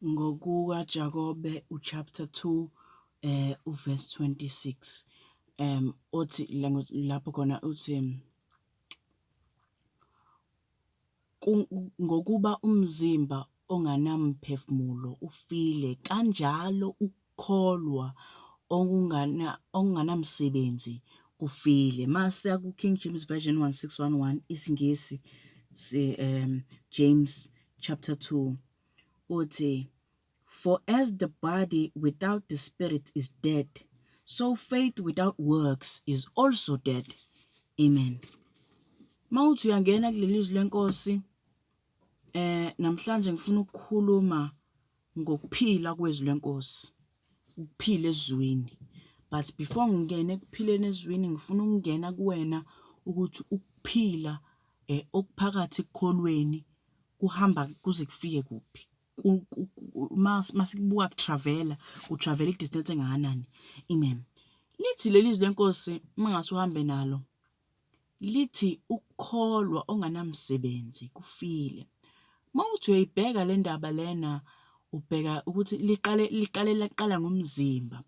NgokukaJakobe chapter 2 verse 26, othi, lapho khona uthi, Ngokuba umzimba ongenamphefumulo ufile, kanjalo. kholwa okunganamsebenzi kufile masiya ku King James Version 1611 isingisi um James chapter 2 uthi for as the body without the spirit is dead so faith without works is also dead amen mawuthi uyangena kulelizwi lenkosi eh namhlanje ngifuna ukukhuluma Ngokuphila kwezwi lenkosi, ukuphila ezwini. But before ngingene ekuphileni ezwini ngifuna ukungena kuwena ukuthi ukuphila eh, okuphakathi ekukholweni kuhamba kuze kufike kuphi masikubuka kutravela kutravela idistance engakanani amen lithi leli zwi lenkosi mangase uhambe nalo lithi ukukholwa onganamsebenzi kufile. Uma uthi uyoyibheka le ndaba lena ubheka ukuthi liqale liqale laqala ngomzimba,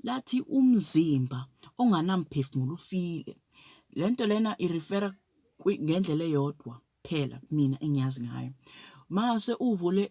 lathi umzimba onganamphefumulo ufile. Le nto lena irifera ngendlela eyodwa. phela mina engiyazi ngayo mase uvule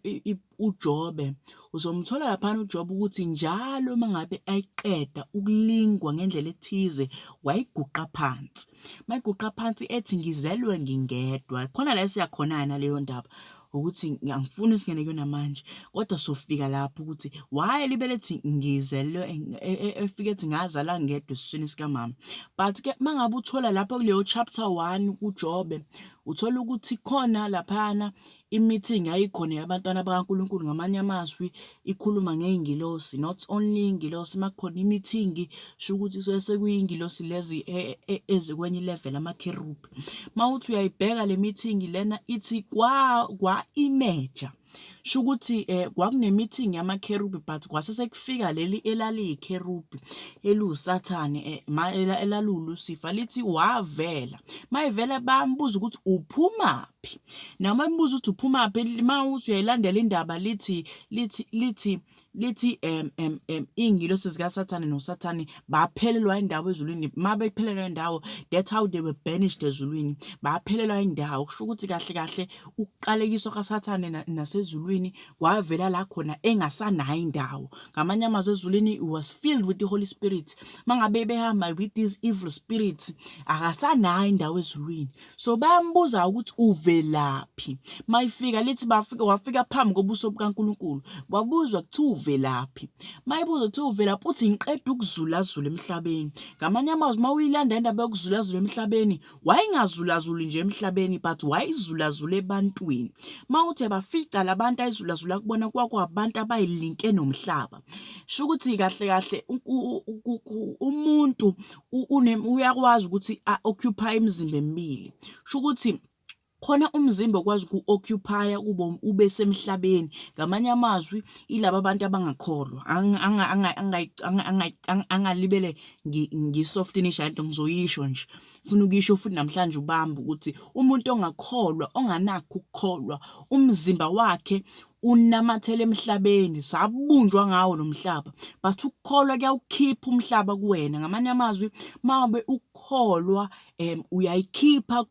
uJobe uzomthola lapha uJobe ukuthi njalo mangabe ayiqeda ukulingwa ngendlela ethize wayiguqa phansi mayiguqa phansi ethi ngizelwe ngingedwa khona la siyakhona na leyo ndaba ukuthi ngiyangifuna singene kuyona manje kodwa sofika lapho ukuthi why libelethi ngizelwe e, e, e, efike ethi ngazala ngedwa esiswini sikamama but ke mangabe uthola lapho kuleyo chapter 1 kuJobe Uthole ukuthi khona laphana i-meeting yayikhona yabantwana bakaNkulunkulu ngamanye amazwi ikhuluma ngey'ngilosi not only iy'ngilosi uma kukhona i-meeting shukuthi kusuke sekuyiy'ngilosi lezi e, e, ezikwenye ilevel amakherubhi. Uma uthi uyayibheka le meeting lena ithi kwa-imeja. Shukuthi eh kwakune meeting yama kherubi but kwase sekufika leli elaliyi kherubi elusathane eh elalulusifa lithi wavela mayivela bambuza ukuthi uphumaphi noma mbuza ukuthi uphumaphi mawuthi uyayilandela indaba lithi lithi lithi lithi em em em iy'ngilosi zikaSathane noSathane baphelelwa indawo ezulwini uma bephelelwa indawo that's how they were banished ezulwini baphelelwa indawo kusho ukuthi kahle kahle ukuqalekiswa kaSathane nasezulwini kwavela la khona engasanayo indawo ngamanye amazwi ezulwini was filled with the holy spirit mangabe behamba with these evil spirits akasanayo indawo ezulwini So bayambuza ukuthi uvelaphi. Mayifika lithi bafika wafika phambi kobuso bukaNkulunkulu. Wabuzwa kuthiwa uvelaphi. Mayibuza kuthiwa uvelaphi uthi ngiqeda ukuzulazula emhlabeni. Ngamanye amazwi mawuyilanda indaba yokuzulazula emhlabeni, wayengazulazuli nje emhlabeni but wayizulazula ebantwini. Mawuthi abafica labantu ayizulazula kubona kwakwabantu abayilinke nomhlaba. Shukuthi kahle kahle umuntu uyakwazi ukuthi a-occupy imizimba emibili. Kusho ukuthi khona umzimba okwazi uku-occupy-a kube ube semhlabeni. Ngamanye amazwi ilaba bantu abangakholwa angalibele ngi-softenish nto ngizoyisho nje. Funa ukuyisho futhi namhlanje ubambe ukuthi umuntu ongakholwa onganakho ukukholwa umzimba wakhe unamathela emhlabeni sabunjwa ngawo lo mhlaba but ukukholwa kuyawukhipha umhlaba kuwena ngamanye amazwi mabe ukukholwa um uyayikhipha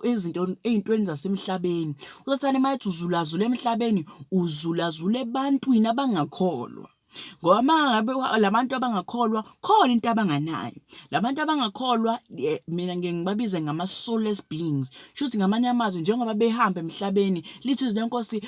izinto ey'ntweni zasemhlabeni usathane uma ethi uzulazula emhlabeni uzulazula ebantwini abangakholwa Ngoba uma ngabe la bantu abangakholwa khona into abanganayo. La bantu abangakholwa mina ngiye ngibabize ngama-soulless beings, shuthi ngamanye amazwi njengoba behamba emhlabeni lithi izwi leNkosi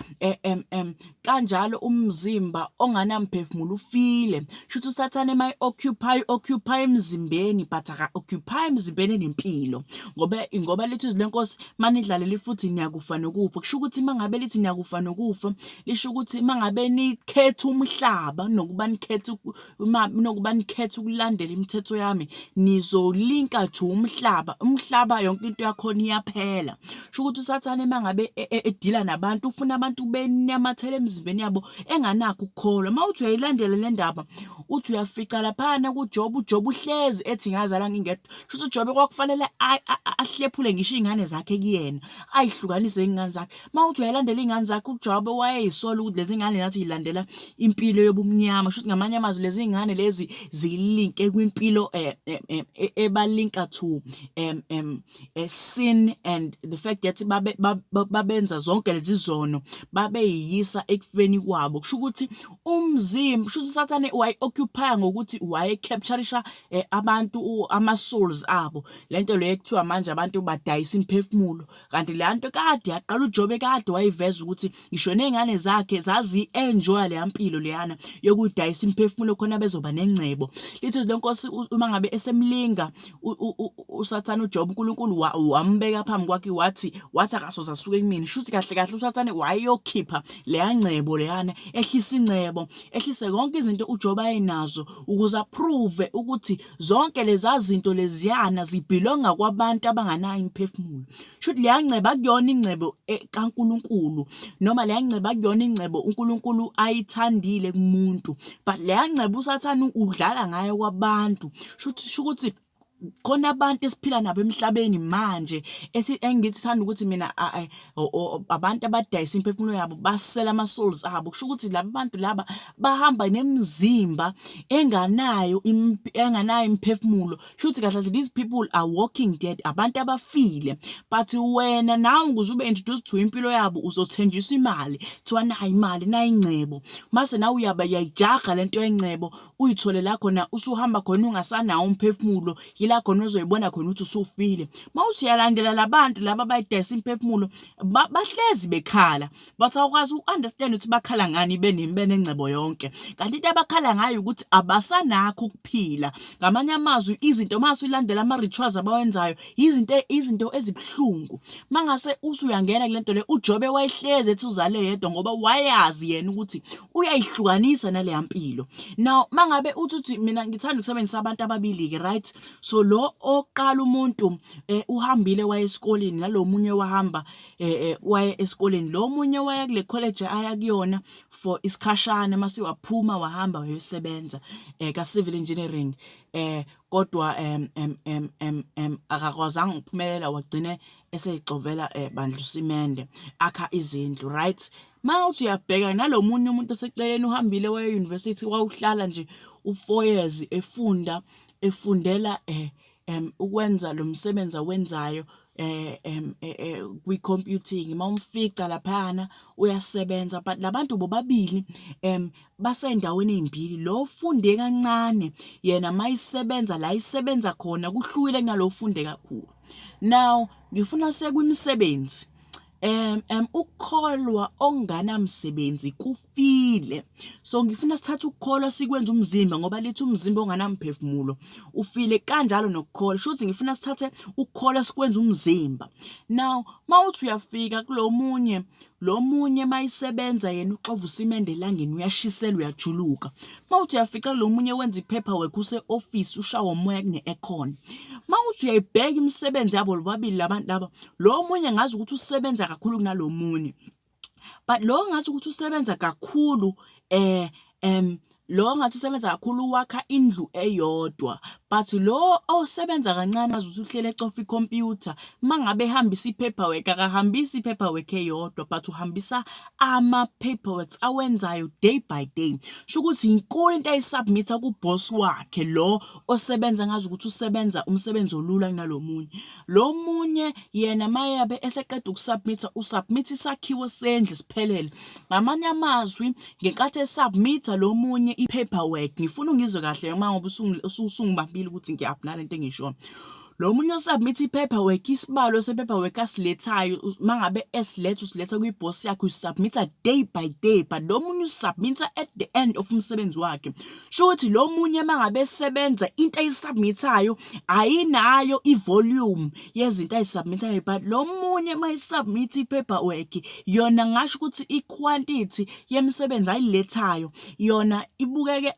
kanjalo umzimba onganamphefumulo ufile. Shuthi uSathane uma e-occupy, u-occupy emzimbeni but aka-occupy emzimbeni enempilo ngoba ngoba lithi izwi leNkosi uma nidlalele ifuthi niyakufa nokufa. Kusho ukuthi uma ngabe lithi niyakufa nokufa lisho ukuthi uma ngabe nikhetha umhlaba kunokuba nikhethe uma kunokuba nikhethe ukulandela imithetho yami nizolinka ju umhlaba umhlaba yonke into yakhona iyaphela sho ukuthi usathane uma ngabe e, e, edila nabantu ufuna abantu benamathela emzimbeni yabo enganakho ukukholwa uma uthi uyayilandela le ndaba uthi uyafica laphana kujoba ujoba uhlezi ethi ngazala ngingedwa sho ukuthi ujobe kwakufanele ahlephule ngisho iy'ngane zakhe kuyena ayihlukanise iy'ngane zakhe Uma uthi uyayilandela iy'ngane zakho uJobe wayeyisola ukuthi lezi ngane nathi yilandela impilo yobumnyama shuthi ngamanye amazwi lezi ngane lezi zilinke kwimpilo eh, eh, eh, e, ebalinka to um, um, sin and the fact that babe, babenza zonke lezi zono babeyiyisa ekufeni kwabo kusho ukuthi umzimba kusho ukuthi usathane wayi-occupya ngokuthi waye-capturisha um abantu ama-souls abo le nto leyo ekuthiwa manje abantu badayisa imiphefumulo kanti le nto kade yaqala uJobe kade wayiveza ukuthi ngisho nezingane zakhe zazi-enjoya leya mpilo leyana yokudayisa imiphefumulo khona bezoba nengcebo lithi le nkosi uma ngabe esemlinga usathane uJobe uNkulunkulu wambeka phambi kwakhe wathi wathi akasoze asuke kumina shuthi kahle kahle usathane wayeyokhipha leya ngcebo leyana ehlisa ingcebo ehlise konke izinto uJobe ayenazo ukuze approve ukuthi Zonke leza zinto leziyana zibhilonga kwabantu abanganayo imiphefumulo. Shuthi leya ngcebo akuyona ingcebo e, kaNkulunkulu noma leya ngcebo akuyona ingcebo uNkulunkulu ayithandile kumuntu. But leya ngcebo usathane udlala ngayo kwabantu. Shuthi shukuthi khona abantu esiphila nabo emhlabeni manje ethi engithi sithanda ukuthi mina abantu abadayisa imphefumulo yabo basela ama-souls abo kusho ukuthi laba bantu laba bahamba nemizimba enganayo enganayo imphefumulo kusho ukuthi kahle kahle these people are walking dead abantu abafile but wena nawe ukuze ube introduced to impilo yabo uzothenjiswa imali kuthiwa nayi imali nayi ingcebo mase nawe uyayijaga lento yengcebo uyithole la khona usuhamba khona ungasanawo umphefumulo yila khona ozoyibona khona ukuthi usufile mawuthi uyalandela labantu laba bayidayisa imphefumulo bahlezi bekhala but awukwazi uunderstand ukuthi bakhala ngani benimi benengcebo yonke kanti into abakhala ngayo ukuthi abasanakho ukuphila ngamanye amazwi izinto mase ulandela ama rituals abawenzayo Izinto izinto ezibuhlungu. Mangase usuyangena kule nto le uJobe wayehlezi ethi uzale yedwa ngoba wayazi yena ukuthi uyayihlukanisa naleya mpilo. Now mangabe uthi uthi mina ngithanda ukusebenzisa abantu ababili ke right. So lo oqala umuntu eh, uhambile waye esikoleni nalomunye wahamba eh, eh, waye esikoleni. Lo munye waya kule college aya kuyona for isikhashana mase waphuma wahamba wayosebenza eh, ka civil engineering eh Kodwa em, em, em, em, em, akakwazanga ukuphumelela wagcine eseyixovela eh, bandla usimende akha izindlu right ma uthi uyabheka nalo munye umuntu oseceleni uhambile waye university wawuhlala nje u4 years efunda efundela eh em ukwenza lo msebenzi awenzayo um kwi-computing uma umfica laphana uyasebenza but labantu bobabili um basey'ndaweni ey'mbili lo ofunde kancane yena uma isebenza la isebenza khona kuhlukile kunalo ofunde kakhulu now ngifuna sekwimisebenzi um um ukukholwa okunganamsebenzi kufile so ngifuna sithathe ukukholwa sikwenza umzimba ngoba lithi umzimba onganamphefumulo ufile kanjalo nokukholwa shuthi ngifuna sithathe ukukholwa sikwenza umzimba now mawuthi uyafika kulomunye lomunye mayisebenza yena uxova usimende elangeni uyashiselwa uyajuluka mawuthi uyafica lo munye wenza iphepha work use-ofisi ushawa umoya kune-aircon mawuthi uyayibheka imisebenzi yabo lobabili labantu laba lo munye ngazi ukuthi usebenza kakhulu kunalo munye but lo ngathi ukuthi usebenza kakhulu eh em lo ngathi usebenza kakhulu wakha indlu eyodwa but lo osebenza kancane azuthi uhlele ecofa icomputer mangabe ehambisa ipaperwork akahambisi ipaperwork eyodwa but uhambisa ama-paperworks awenzayo day by day. Shukuthi inkulu into ayi-submit-a ku-boss wakhe lo osebenza ngazi ukuthi usebenza umsebenzi olula kunalo munye. Lo munye yena mayabe eseqeda uku-submit-a, u-submit-a isakhiwo sendlu siphelele. Ngamanye amazwi ngenkathi e-submit-a lo munye i-paperwork, ngifuna ungizwe kahle noma ngoba usungibambile ukuthi ngiyaphi nale nto engiyishoyo. Lo munye osubmit i-paperwork isibalo se-paperwork asilethayo uma ngabe esiletha usiletha kwi-boss yakhe usubmitha day by day but lo munye usubmitha at the end of umsebenzi wakhe sho ukuthi lo munye uma ngabe esebenza into ayisubmithayo ayinayo i-volume yezinto ayisubmithayo but lo munye uma isubmit i-paperwork yona ngasho ukuthi i-quantity yemisebenzi ayilethayo yona ibukeke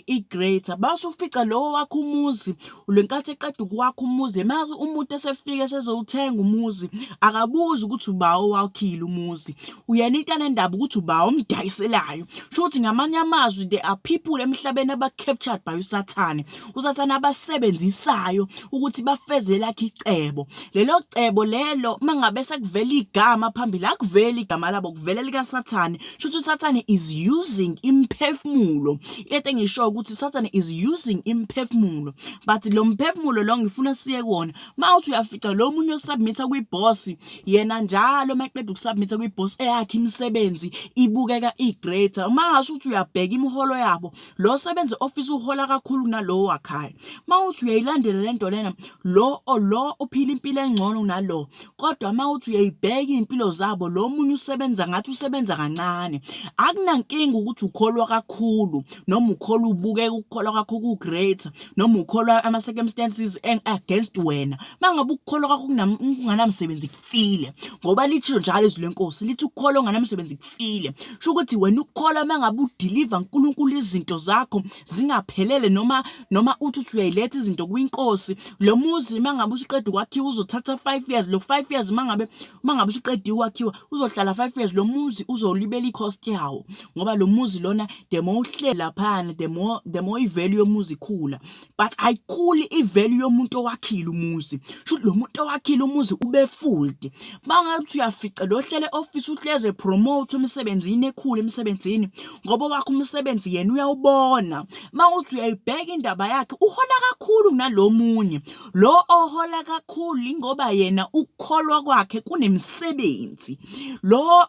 i-greater basufica lowo wakho umuzi lenkathi eqeda ukwakha umuzi mazi umuntu esefika esezowuthenga umuzi akabuzi ukuthi ubawo wakhile umuzi uyena into anendaba ukuthi ubawo omdayiselayo sho ukuthi ngamanye amazwi there are people emhlabeni aba-captured by usathane usathane abasebenzisayo ukuthi bafeze lakhe icebo lelo cebo lelo mangabe sekuvela igama phambili akuveli igama labo kuvela likasathane shuthi usathane is using imphefumulo into engisho ukuthi sathane is using imphefumulo but lo mphefumulo lo ngifuna siye kuwona uma uthi uyafica lo munye osubmitha kwi-boss yena njalo uma eqeda ukusubmitha kwi-boss eyakhe imisebenzi ibukeka i-greater uma ngasho ukuthi uyabheka imiholo yabo lo sebenzi ofisa uhola kakhulu kunalowo wakhayo mawuthi uyayilandela lento lena lo lo uphila impilo engcono kunalo kodwa mawuthi uyayibheka impilo zabo lo munye usebenza ngathi usebenza kancane akunankinga ukuthi ukholwa kakhulu noma ukholwa ubukeka ukukholwa kwakho ku great noma ukholwa ama circumstances against wena mangabe ukukholwa kwakho kunganamsebenzi kufile ngoba lithisho njalo izwi lenkosi lithi ukukholwa onganamsebenzi kufile sho ukuthi wena ukukholwa uma ngabe udiliva nkulunkulu izinto zakho zingaphelele noma noma uthi uthi uyayiletha izinto kwinkosi lo muzi uma ngabe usuqeda ukwakhiwa uzothatha five years lo five years uma ngabe uma ngabe usuqediwe ukwakhiwa uzohlala five years lo muzi uzolibela i-cost yawo ngoba lo muzi lona the more uhlela phana the more the more i-value yomuzi ikhula but ayikhuli ivelu yomuntu owakhile umuzi shuthi lo muntu owakhile umuzi ubefooled bangathi uyafica lo hlele office uhleze promote emsebenzini ekhulu emsebenzini ngoba wakho umsebenzi yena uyawubona mawuthi uyayibheka indaba yakhe uhola kakhulu kunalomunye lo ohola kakhulu ingoba yena ukukholwa kwakhe kunemisebenzi lo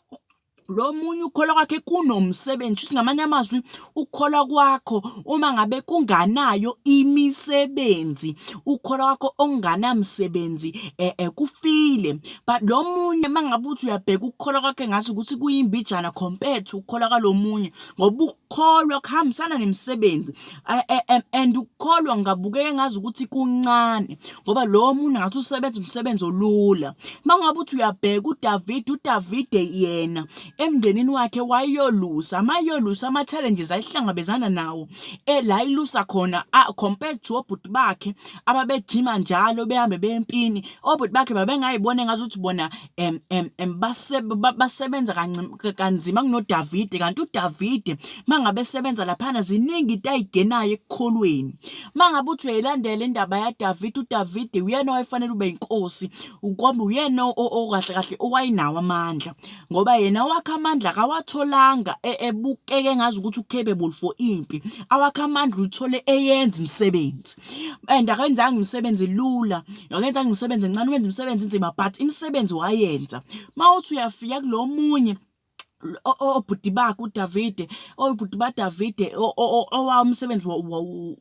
lo munye ukukholwa kwakhe kunomsebenzi futhi ngamanye amazwi ukukholwa kwakho uma ngabe kunganayo imisebenzi ukukholwa kwakho okunganamsebenzi eh, eh, kufile but lo munye uma ngabe uthi uyabheka ukukholwa kwakhe ngazi ukuthi kuyimbijana compared to ukukholwa kwalo munye ngoba ukukholwa kuhambisana nemisebenzi and ukukholwa ngingabukeka ngazi ukuthi kuncane ngoba lowo muntu ngathi usebenza umsebenzi olula uma ngabe uthi uyabheka udavide udavide yena emndenini wakhe wayeyolusa amayolusa ama-challenges ayihlangabezana nawo ela ilusa khona compared to obhuti bakhe ababejima njalo behambe bempini obhuti bakhe babengayibona engazuthi bona em em em basebenza kanzima kunoDavide kanti uDavide mangabe sebenza laphana ziningi into ayigenayo ekukholweni mangabe uthi uyayilandela indaba yaDavide uDavide uyena owayefanele ube inkosi ukwamba uyena okahle kahle owayinawo amandla ngoba yena wakha amandla kawatholanga e, ebukeke ngazi ukuthi u-capable for impi awakha amandla uthole eyenza imisebenzi and akenzanga imisebenzi lula wakenza nje umsebenzi encane wenza umsebenzi nzima but imisebenzi wayenza mawuthi uyafika kulomunye obhuti bakhe uDavide obhuti baDavide owawo umsebenzi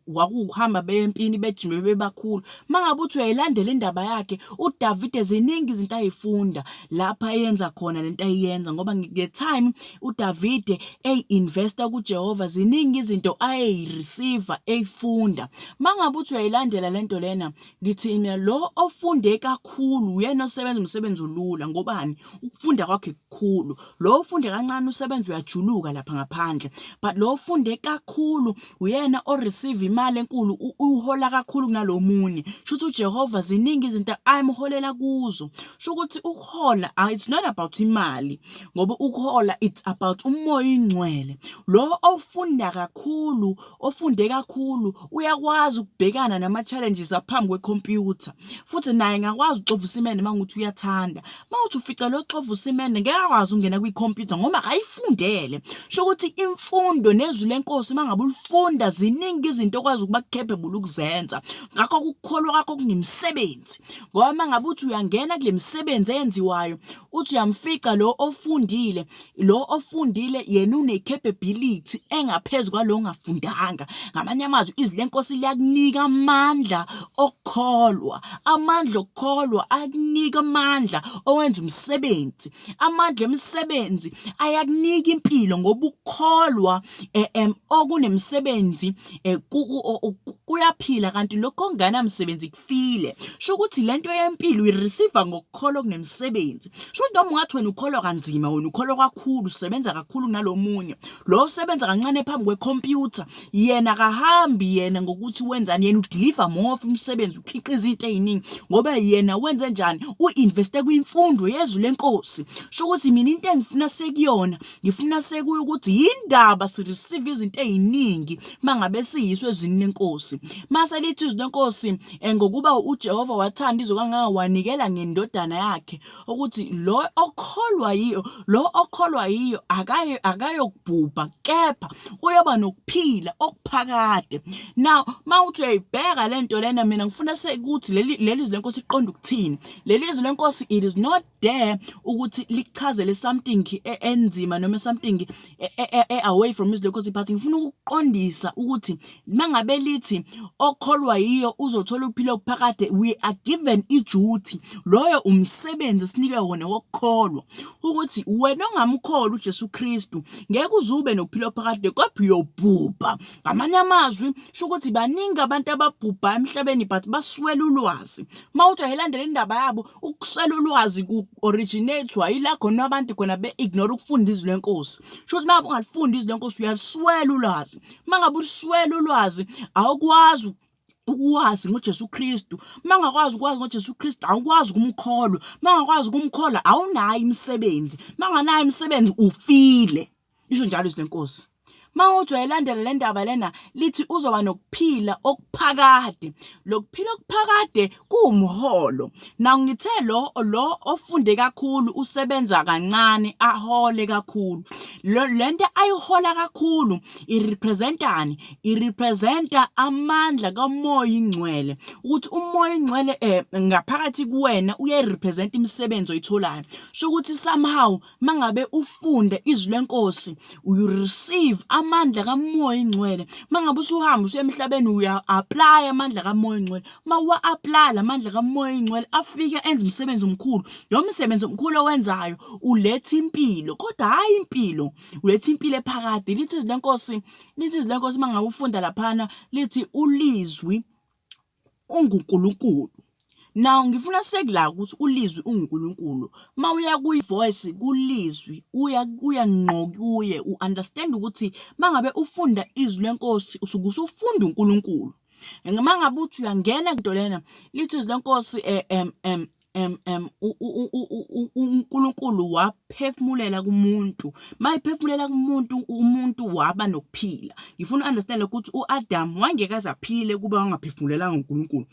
wakuhamba bempini bejime bebakhulu mangabe uthi uyayilandela indaba yakhe uDavide ziningi izinto ayifunda lapha ayenza khona lento ayenza ngoba nge time uDavide ey investor kuJehova ziningi izinto ayi receiver eyifunda mangabe uthi uyayilandela lento lena Ngithi mina lo ofunde kakhulu uyena osebenza umsebenzi olula ngobani ukufunda kwakhe kukhulu lo ofunde kancane usebenza uyajuluka lapha ngaphandle but lo ofunde kakhulu uyena o receive imali enkulu uhola kakhulu kunalomunye shuthi uJehova ziningi izinto ayimholela kuzo shukuthi ukuhola ah, it's not about imali ngoba ukuhola it's about umoya ingcwele lo ofunda kakhulu ofunde kakhulu uyakwazi ukubhekana nama-challenges aphambi kwekhompyutha futhi naye ngakwazi uxova usimende uma ngukuthi uyathanda uma uthi ufica lo xova usimende ngeke akwazi ukungena kwikhompyutha ngoba akayifundele sho ukuthi imfundo nezwi lenkosi uma ngabe ulifunda ziningi izinto okwazi ukuba capable ukuzenza ngakho ukukholwa kwakho kunemisebenzi ngoba uma ngabe uthi uyangena kule misebenzi eyenziwayo uthi uyamfica lo ofundile lo ofundile yena une-capability engaphezu kwalo ongafundanga ngamanye amazwi izwi lenkosi liyakunika amandla okukholwa amandla okukholwa akunika amandla owenza umsebenzi amandla emisebenzi ayakunika impilo ngoba ukukholwa um okunemisebenzi um kuyaphila kanti lokho okunganamsebenzi ufile sho ukuthi lento yempilo uyireceive ngokukholwa kunemisebenzi sho ukuthi noma ungathi wena ukholwa kanzima wena ukholwa kakhulu usebenza kakhulu kunalomunye lo usebenza kancane phambi kwecomputer yena kahambi yena ngokuthi wenzani yena udeliver more of umsebenzi ukhiqiza into eziningi ngoba yena wenze njani uinveste kwimfundo yezwi lenkosi sho ukuthi mina into engifuna sekuyona ngifuna sekuye ukuthi yindaba sireceive izinto eziningi mangabe siyiso ezini lenkosi mase lithi izwi lenkosi eh, ngokuba uJehova wathanda izwe kangaka wanikela ngendodana yakhe ukuthi lo okholwa yiyo lo okholwa yiyo akaye akayokubhubha kepha uyoba nokuphila okuphakade now mawuthi uyayibheka lento lena mina ngifuna sekuthi leli leli izwi lenkosi iqonda ukuthini leli izwi lenkosi it is not dare ukuthi likuchazele something e, enzima noma something e, e, away from his local party ngifuna ukuqondisa ukuthi mangabe lithi okholwa yiyo uzothola ukuphila okuphakade we are given i duty loyo umsebenzi sinike wona wokukholwa ukuthi wena ongamkholwa uJesu Kristu ngeke uzube nokuphila okuphakade kodwa uyobhubha ngamanye amazwi sho ukuthi baningi abantu ababhubha emhlabeni but baswela ulwazi mawuthi ayilandela indaba yabo Ukuswela ulwazi ku-originate-wa yila khona abantu khona be-ignore ukufunda izwi lenkosi. Sho ukuthi mangabe ungalifunda izwi lenkosi uyaliswela ulwazi. Mangabe uliswela ulwazi awukwazi ukwazi ngoJesu Kristu mangakwazi ukwazi ngoJesu Kristu awukwazi ukumkholwa mangakwazi ukumkholwa awunayo imisebenzi manganayo imisebenzi ufile isho njalo izwi lenkosi mawujwa elandela le ndaba lena lithi uzoba nokuphila okuphakade lokuphila okuphakade kuwumholo nawu ngithe lo lo ofunde kakhulu usebenza kancane ahole kakhulu lento ayihola kakhulu irepresentani irepresenta amandla kamoya ingcwele ukuthi umoya ingcwele eh, ngaphakathi kuwena uyayirepresenta imisebenzi oyitholayo sho ukuthi somehow mangabe ufunda izwi lenkosi you receive amandla kamoya ingcwele mangabe usuhamba usuya emhlabeni uya-aplaya amandla kamoya ingcwele uma uwa-aplaya la mandla kamoya ingcwele afike enza umsebenzi omkhulu lo msebenzi omkhulu owenzayo uletha impilo kodwa hhayi impilo uletha impilo ephakade lithi izwi lenkosi lithi izwi lenkosi mangabe ufunda laphana lithi ulizwi UnguNkulunkulu. Now ngifuna sek la ukuthi uLizwi unguNkulunkulu. Uma uya kuyi-voice kuLizwi uya kuya ngqo kuye u-understand ukuthi uma ngabe ufunda izwi lenkosi usuke usufunda uNkulunkulu. Uma ngabe uthi uyangena into lena lithi izwi lenkosi um um uNkulunkulu waphefumulela kumuntu mayiphefumulela kumuntu umuntu waba nokuphila ngifuna u-understand ukuthi u-Adam wangeke aze aphile kuba wangaphefumulelanga uNkulunkulu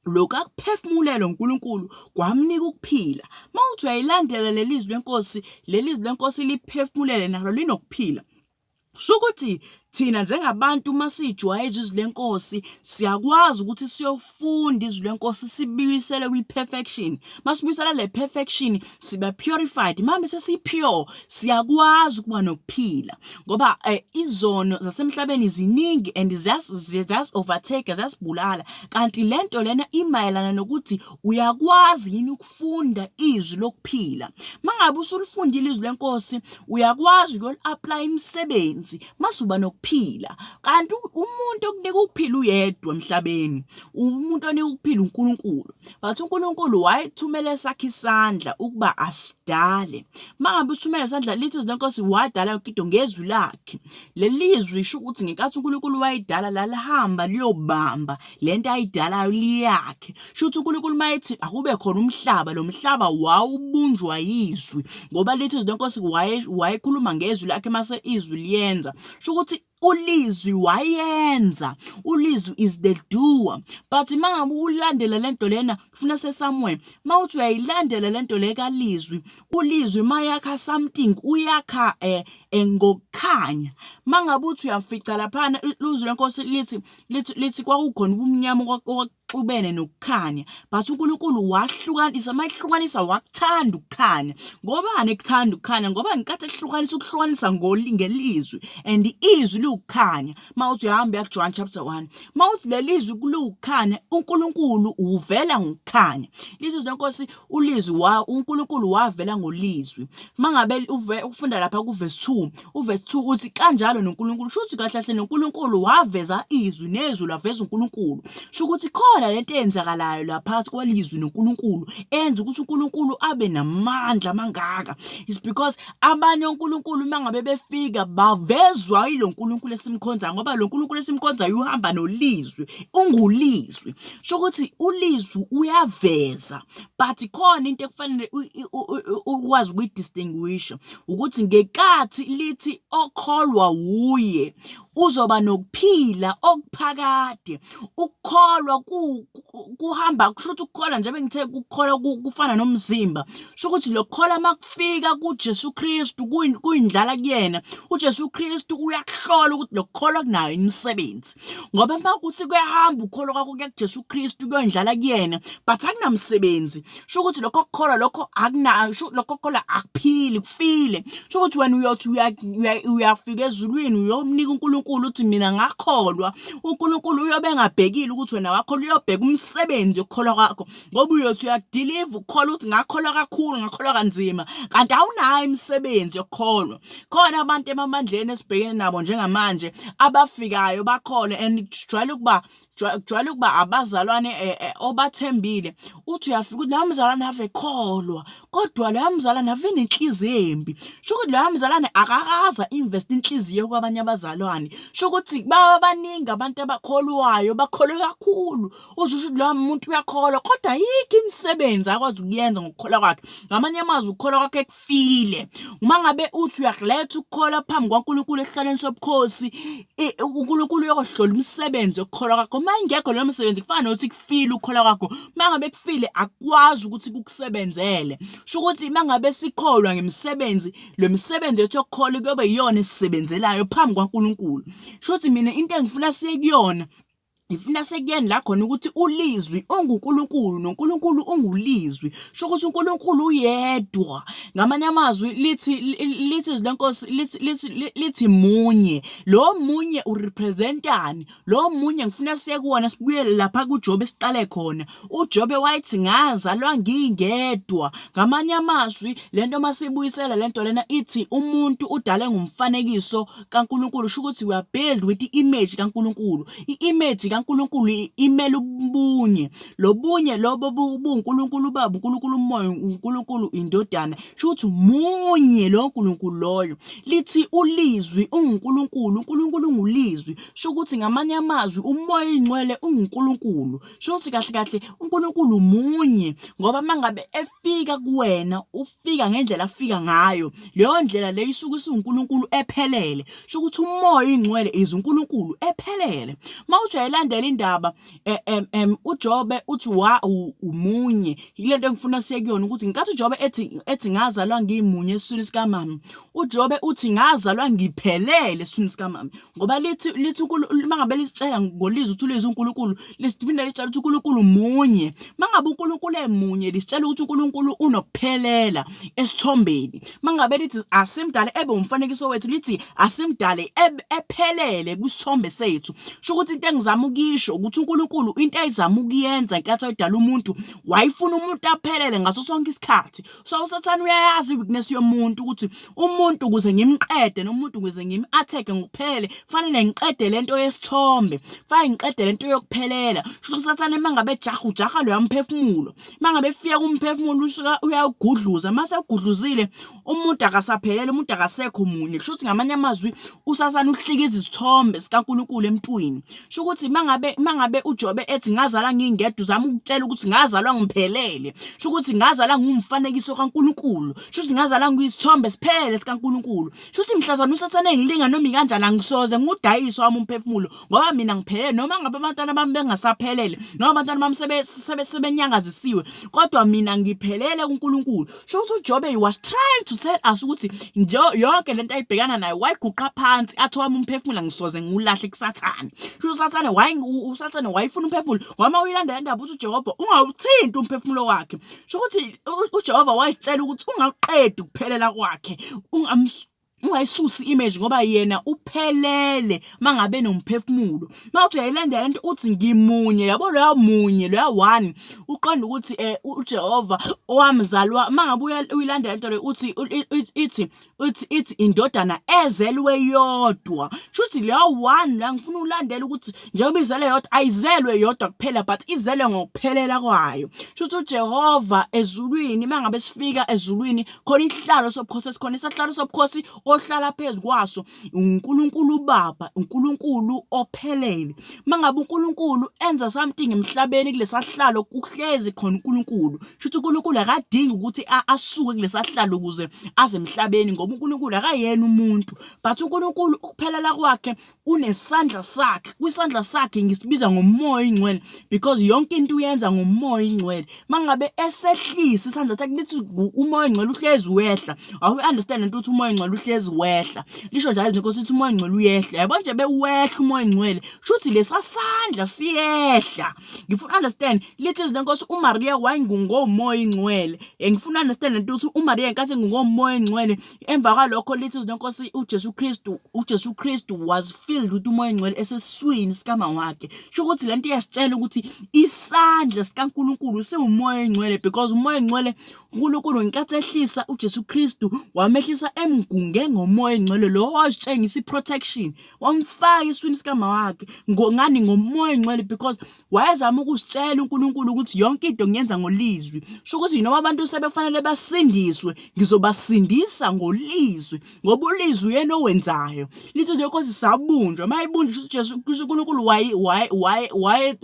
lokhu akuphefumulelwe uNkulunkulu kwamnika ukuphila mawuthi uyayilandela lelizwi lenkosi lelizwi lenkosi liphefumulele nalo linokuphila Shukuthi thina njengabantu uma siyijwayeza izwi lenkosi siyakwazi ukuthi siyofunda izwi lenkosi sibuyisele kwi-perfection uma sibuyisela le perfection siba purified mame sesi-pure siyakwazi ukuba nokuphila ngoba eh, izono zasemhlabeni ziningi and ziyas-overtake ziyasibulala kanti le nto lena imayelana nokuthi uyakwazi yini ukufunda izwi lokuphila mangabe usulifundile izwi lenkosi uyakwazi ukuyoli-aplaya imisebenzi masuba nokuphila kanti umuntu okunika ukuphila uyedwa emhlabeni umuntu onika ukuphila uNkulunkulu but uNkulunkulu wayethumela esakhe isandla ukuba asidale mangabe uthumela isandla lithi izwi lenkosi wadala yonke into ngezwi lakhe leli zwi isho ukuthi ngenkathi uNkulunkulu wayedala lalihamba liyobamba le nto ayidalayo liyakhe sho ukuthi unkulunkulu uma ethi akube khona umhlaba lo mhlaba wawubunjwa yizwi ngoba lithi izwi lenkosi wayekhuluma ngezwi lakhe mase izwi liyenza sho ukuthi ulizwi wayenza ulizwi is the doer but mangabe ulandela lento lena kufuna sesamuel mawuthi uyayilandela lento le kalizwi ulizwi mayakha something uyakha eh, eh ngokukhanya mangabe uthi uyafica laphana luzwi lenkosi lithi lithi lithi kwakukhona ubumnyama okwakuxubene nokukhanya but uNkulunkulu wahlukanisa mayihlukanisa wakuthanda ukukhanya ngobani ekuthanda ukukhanya ngoba ngenkathi ehlukanisa ukuhlukanisa ngelizwi and izwi liwukukhanya mawuthi uhamba ya John chapter 1 mawuthi lelizwi kuliwukukhanya uNkulunkulu uvela ngokukhanya lithi zenkosi uLizwi wa uNkulunkulu wavela ngolizwi. Mangabe ufunda lapha kuverse 2, uverse 2 uthi kanjalo noNkulunkulu. Shuthi kahle kahle noNkulunkulu waveza izwi nezwi laveza uNkulunkulu. Shukuthi khona lento eyenzakalayo la phakathi kwalizwi noNkulunkulu enza ukuthi uNkulunkulu abe namandla mangaka. It's because abanye onkulunkulu uma ngabe befika bavezwa yilo nkulunkulu esimkhonzayo ngoba lo nkulunkulu esimkhonzayo uhamba nolizwi ungulizwi sho ukuthi ulizwi uyaveza but khona into ekufanele ukwazi ukuyidistinguisha ukuthi ngekathi lithi okholwa wuye uzoba nokuphila okuphakade ukukholwa kuhamba kusho ukuthi ukukholwa njengoba ngithe ukukholwa kufana nomzimba kusho ukuthi lokukholwa makufika kuJesu Kristu kuyindlala kuyena uJesu Kristu uyakuhlola ukuthi lokukholwa kunayo imisebenzi ngoba uma kuthi kuyahamba ukukholwa kwakho kuJesu Kristu kuyondlala kuyena but akunamsebenzi sho ukuthi lokho kukholwa lokho akunayo sho lokho kukholwa akuphili kufile sho ukuthi wena uyothi uyafika ezulwini uyomnika uNkulunkulu uthi mina ngakholwa uNkulunkulu uyobe engabhekile ukuthi wena wakholwa uyobheka umsebenzi okukholwa kwakho ngoba uyothi uyakudiliva ukukholwa ukuthi ngakholwa kakhulu ngakholwa kanzima kanti awunayo imisebenzi yokukholwa khona abantu emamandleni esibhekene nabo njengamanje abafikayo bakhole and kujwayele ukuba kujwayele ukuba abazalwane eh, eh, obathembile uthi uyafika ukuthi loya mzalwane ave ekholwa kodwa loya mzalwane ave nenhliziyo embi sho ukuthi loya mzalwane akakaza invest inhliziyo kwabanye abazalwane sho ukuthi baba baningi abantu abakholwayo bakholwe kakhulu uzwe ukuthi loya muntu uyakholwa kodwa yikho imisebenzi akwazi ukuyenza ngokukholwa kwakhe ngamanye amazwi ukukholwa kwakhe ufile uma ngabe uthi uyakuletha ukukholwa phambi kwaNkulunkulu esihlalweni sobukhosi uNkulunkulu uyokohlola umsebenzi okukholwa kwakho uma ingekho leyo msebenzi kufana nokuthi kufile ukukholwa kwakho uma ngabe kufile akwazi ukuthi kukusebenzele sho ukuthi uma ngabe sikholwa ngemisebenzi lo msebenzi wethu okukholwa kuyobe yiyona esisebenzelayo phambi kwaNkulunkulu sho ukuthi mina into engifuna siye kuyona ngifuna sekuyeni la khona ukuthi ulizwi unguNkulunkulu noNkulunkulu ungulizwi sho ukuthi uNkulunkulu uyedwa ngamanye amazwi lithi lithi izwi lenkosi lithi lithi lithi munye lo munye urepresentani lo munye ngifuna siyekuwona sibuyele lapha kuJobe siqale khona uJobe wayethi ngazalwa ngingedwa ngamanye amazwi lento masibuyisela lento lena ithi umuntu udale ngumfanekiso kaNkulunkulu usho ukuthi we are build with i-image kaNkulunkulu i-image kaNkulunkulu imela ubunye lobunye lobo buNkulunkulu ubaba uNkulunkulu umoya uNkulunkulu indodana sho ukuthi munye lo Nkulunkulu loyo lithi ulizwi unguNkulunkulu uNkulunkulu ungulizwi sho ukuthi ngamanye amazwi umoya ingcwele unguNkulunkulu sho ukuthi kahle kahle uNkulunkulu munye ngoba mangabe efika kuwena fika ngendlela afika ngayo leyo ndlela leyo isuke isuNkulunkulu ephelele sho ukuthi umoya ingcwele is uNkulunkulu ephelele mawuthi uyayilandela indaba eh, em em uJobe uthi wa umunye ilento engifuna sekuyona ukuthi ngikathi uJobe ethi ethi ngazalwa ngimunye esiswini sikamama uJobe uthi ngazalwa ngiphelele esiswini sikamama ngoba lithi lithi mangabe lisitshela ngolizwe uthi ulizwe uNkulunkulu lisiphinde lisitshela ukuthi uNkulunkulu munye mangabe uNkulunkulu emunye lisitshela ukuthi uNkulunkulu unokuphelela esithombeni mangabe lithi asimdale ebe umfanekiso wethu lithi asimdale ephelele kwisithombe sethu sho ukuthi into engizama ukuyisho ukuthi uNkulunkulu into ayizama ukuyenza inkathi ayidala umuntu wayifuna umuntu aphelele ngaso sonke isikhathi so usathane uyayazi i-weakness yomuntu ukuthi umuntu ukuze ngimqede nomuntu ukuze ngim-atheke ngokuphelele kufanele ngiqede le nto yesithombe kufanele ngiqede le nto yokuphelela shuthi usathane uma ngabe jaha ujaha loya mphefumulo uma ngabe fika kumphefumulo usuka uyawugudluza uma segudluzile umuntu akasaphelele umuntu akasekho munye kusho ukuthi ngamanye amazwi usathane uhlika izithombe zikankulunkulu emntwini sho ukuthi mangabe mangabe uJobe ethi ngazala ngingedwa uzama ukutshela ukuthi ngazalwa ngiphelele sho ukuthi ngazala ngumfanekiso kaNkuluNkulu sho ukuthi ngazala ngiyisithombe siphelele sikaNkuluNkulu sho ukuthi mhlazana usathane engilinga noma ikanjani angisoze ngudayiswa wami umphefumulo ngoba mina ngiphelele noma ngabe abantwana bami bengasaphelele noma abantwana bami sebenyangazisiwe kodwa mina ngiphelele kuNkuluNkulu sho ukuthi uJobe he was trying to tell us ukuthi yonke lento ayibhekana nayo wayiguqa phansi athi wami umphefumulo ngisoze ngiwulahle kusathane sho usathane wayi usathane wayifuna umphefumulo wama uyilanda le ndaba uthi uJehova ungawuthinti umphefumulo wakhe sho ukuthi uJehova wayitshela ukuthi ungaqedi ukuphelela kwakhe ungamsu ungayisusi image ngoba yena uphelele mangabe nomphefumulo mawuthi uyayilandela lento uthi ngimunye yabo loya munye loya one uqonda ukuthi eh uJehova owamzalwa mangabe uyilandela lento le uthi ithi uthi ithi indodana ezelwe yodwa shuthi loya one la ngifuna ulandela ukuthi njengoba izele yodwa ayizelwe yodwa kuphela but izelwe ngokuphelela kwayo shuthi uJehova ezulwini mangabe sifika ezulwini khona isihlalo sobukhosi esikhona isahlalo sobukhosi ohlala phezu kwaso uNkulunkulu uBaba uNkulunkulu ophelele mangabe uNkulunkulu enza something emhlabeni kulesahlalo kuhlezi khona uNkulunkulu shuthi uNkulunkulu akadingi ukuthi asuke kulesahlalo ukuze aze emhlabeni ngoba uNkulunkulu akayena umuntu but uNkulunkulu ukuphelela kwakhe unesandla sakhe kwisandla sakhe ngisibiza ngomoya ingcwele because yonke into uyenza ngomoya ingcwele mangabe esehlisa isandla sakhe lithi umoya ingcwele uhlezi wehla awu understand into ukuthi umoya ingcwele uhlezi wehla lisho njalo izinto ukuthi umoya ingcwele uyehla yabo nje bewehla umoya ingcwele shuthi lesasandla siyehla ngifuna understand lithi izinto nkosi uMaria wayengungomoya ingcwele ngifuna understand into ukuthi uMaria inkathi ngungomoya ingcwele emva kwalokho lithi izwi lenkosi uJesu Kristu uJesu Kristu was filled ukuthi umoya ongcwele eseswini sikama wakhe sho ukuthi lento iyasitshela ukuthi isandla sikaNkuluNkulu siwumoya ongcwele because umoya ongcwele uNkulunkulu ngenkathi ehlisa uJesu Kristu wamehlisa emgunge ngomoya ongcwele lo washengisa iprotection wamfaka eswini sikama wakhe ngani ngomoya ongcwele because Wayezama ukusitshela uNkulunkulu ukuthi yonke into ngiyenza ngolizwi. Sho ukuthi noma abantu sebekufanele basindiswe, ngizobasindisa ngolizwi ngoba ulizwi uyena owenzayo. Litho nje Nkosi sabunjwa, mayibunjwa ukuthi Jesu kusho uNkulunkulu waye waye waye waye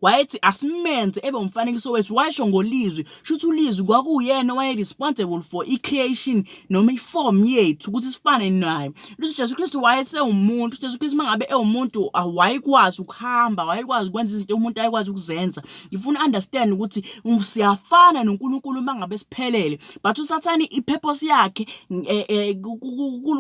wayethi asimenze ebe umfanekiso wethu washo ngolizwi shuthi ulizwi kwakuyena waye responsible for i-creation noma ifomu yethu ukuthi sifane naye luthi Jesu Kristu wayesewumuntu Jesu Kristu mangabe ewumuntu awayikwazi ukuhamba wayekwazi ukwenza izinto umuntu ayekwazi ukuzenza ngifuna understand ukuthi um, siyafana noNkulunkulu mangabe siphelele but usathani ipurpose yakhe eh, eh,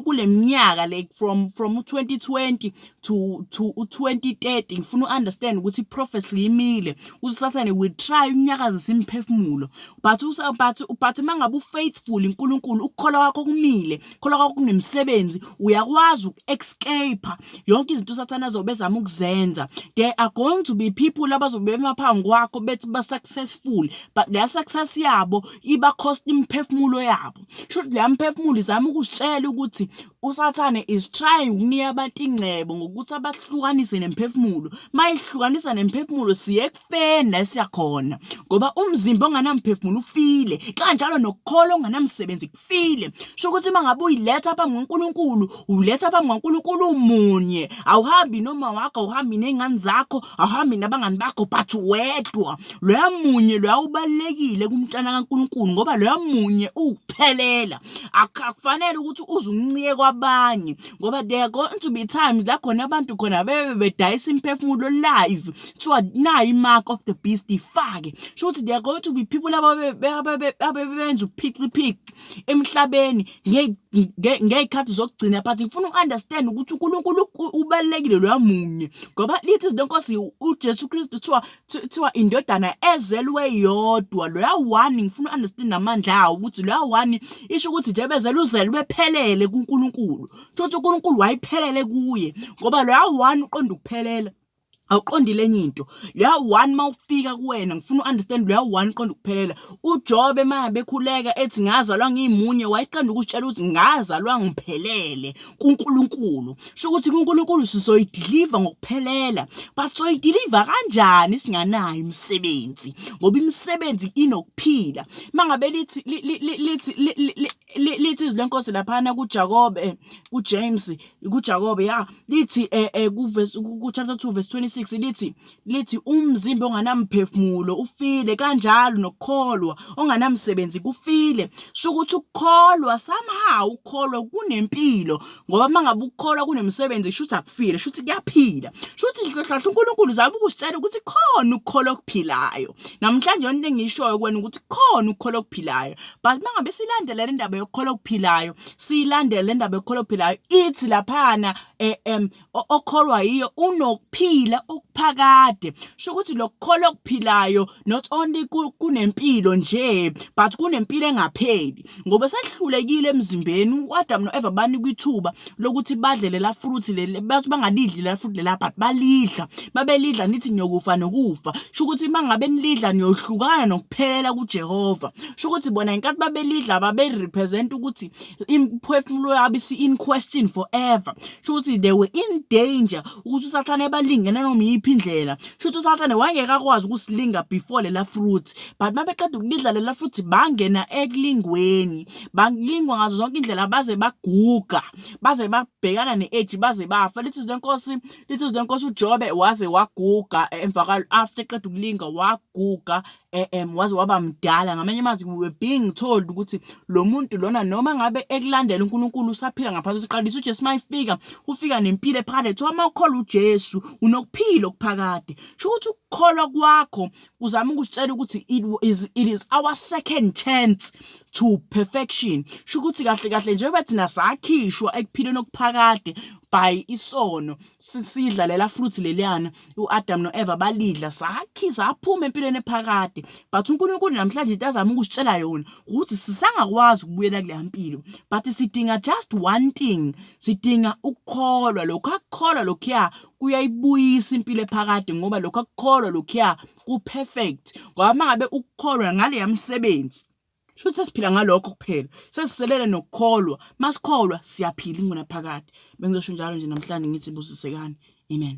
kuleminyaka like from from 2020 to to 2030 ngifuna understand ukuthi prophecy yimile usathani we try unyakaza simphefumulo but usa but but mangabe ufaithful uNkulunkulu ukukholwa kwakho kumile ukukholwa kwakho kunemsebenzi uyakwazi uku-escape yonke izinto usathane azobe ezama ukuzenza there are going to be people abazobe emaphambi kwakho bethi ba-successful but leya success yabo iba cost imiphefumulo yabo shuthi leya mphefumulo izama ukusitshela ukuthi usathane is trying ukunika abantu ingcebo ngokuthi abahlukanise nemphefumulo mayihlukanisa nemphefumulo siye ekufeni la esiya khona ngoba umzimba onganamphefumulo ufile kanjalo nokukholwa okunganamsebenzi kufile sho ukuthi uma ngabe uyiletha phambi kwaNkulunkulu uletha phambi kwaNkulunkulu umunye awuhambi noma wakho awuhambi nezingane zakho awuhambi nabangani bakho but wedwa loya munye loya ubalekile kumntana kaNkulunkulu ngoba loya munye ukuphelela akufanele ukuthi uze uncike kwabanye ngoba there going to be times la khona abantu khona bebe bedayisa imphefumulo live kuthiwa nayi i-mark of the beast ifake sho ukuthi they are going to be people ababebenza uphixiphici emhlabeni ngey'khathi zokugcina but ngifuna uku-understand ukuthi unkulunkulu ubalulekile loya munye ngoba lithi izinto enkosi ujesu kristu kuthiwa kuthiwa indodana ezelwe yodwa loya one ngifuna u-understand amandla awo ukuthi loya one isho ukuthi nje bezele uzelwe ephelele kunkulunkulu sho ukuthi unkulunkulu wayephelele kuye ngoba loya one uqonda ukuphelela awuqondile enye into leya one mawufika kuwena ngifuna u-understand leya one qonda ukuphelela ujobe ma bekhuleka ethi ngazalwa ngimunye wayeqanda ukutshela ukuthi ngazalwa ngiphelele kunkulunkulu sho ukuthi kunkulunkulu sizoyidiliva ngokuphelela but soyidiliva kanjani singanayo imisebenzi ngoba imisebenzi inokuphila mangabe lithi lithi lithi izwi lenkosi laphana kuJakobe kuJames kuJakobe ya lithi eh, eh ku verse ku chapter 2 verse 26 lithi lithi umzimba onganamphefumulo ufile kanjalo nokukholwa onganamsebenzi kufile shukuthi ukukholwa somehow ukukholwa kunempilo ngoba mangabe ukukholwa kunemsebenzi shuthi akufile shuthi kuyaphila shuthi hlahla uNkulunkulu zama ukusitshela ukuthi khona ukukholwa okuphilayo namhlanje yonke engishoyo kwena ukuthi khona ukukholwa okuphilayo but mangabe silandela le ndaba yokukholwa okuphilayo siyilandela le ndaba yokukholwa okuphilayo ithi laphana um okholwa yiyo unokuphila okuphakade sho ukuthi lokukholwa okuphilayo not only kunempilo nje but kunempilo engapheli ngoba sehlulekile emzimbeni uAdam noEva banikwa ithuba lokuthi badle lela fruit leli bathi bangalidli lela fruit lela but balidla babelidla nithi niyokufa nokufa sho ukuthi mangabe nilidla niyohlukana nokuphelela kuJehova sho ukuthi bona ngenkathi babelidla babe-represent ukuthi imphefumulo yabo isi-in question forever sho ukuthi they were in danger ukuthi usathane balingene noma iyiphi indlela sho ukuthi usathane wayeke akwazi ukusilinga before lela fruit but mabeqeda ukulidla lela fruit bangena ekulingweni balingwa ngazo zonke indlela baze baguga baze babhekana ne-age baze bafa lithi izwi lenkosi lithi izwi lenkosi ujobe waze waguga emva after eqeda ukulinga waguga um waze waba mdala ngamanye amazwi we were being told ukuthi lo muntu lona noma ngabe ekulandela uNkulunkulu usaphila ngaphansi kwesiqalisa uJesu mayifika ufika nempilo ephakade kuthiwa uma ukholwa uJesu unokuphila okuphakade sho ukuthi ukukholwa kwakho uzama ukusitshela ukuthi it is, it is our second chance to perfection sho ukuthi kahle kahle njengoba thina sakhishwa ekuphileni okuphakade by isono sidla lela fruit leliyana uAdam noEva balidla sakhi saphuma empilweni ephakade but uNkulunkulu namhlanje into azama ukusitshela yona ukuthi sisangakwazi ukubuyela kule mpilo but sidinga just one thing sidinga ukukholwa lokho akukholwa lokhuya kuyayibuyisa impilo ephakade ngoba lokho akukholwa lokhuya ku-perfect ngoba uma ngabe ukukholwa ngaleya msebenzi shuthi sesiphila ngalokho kuphela sesiselele nokukholwa masikholwa siyaphila ingonaphakade bengizosho njalo nje namhlanje ngithi busisekani amen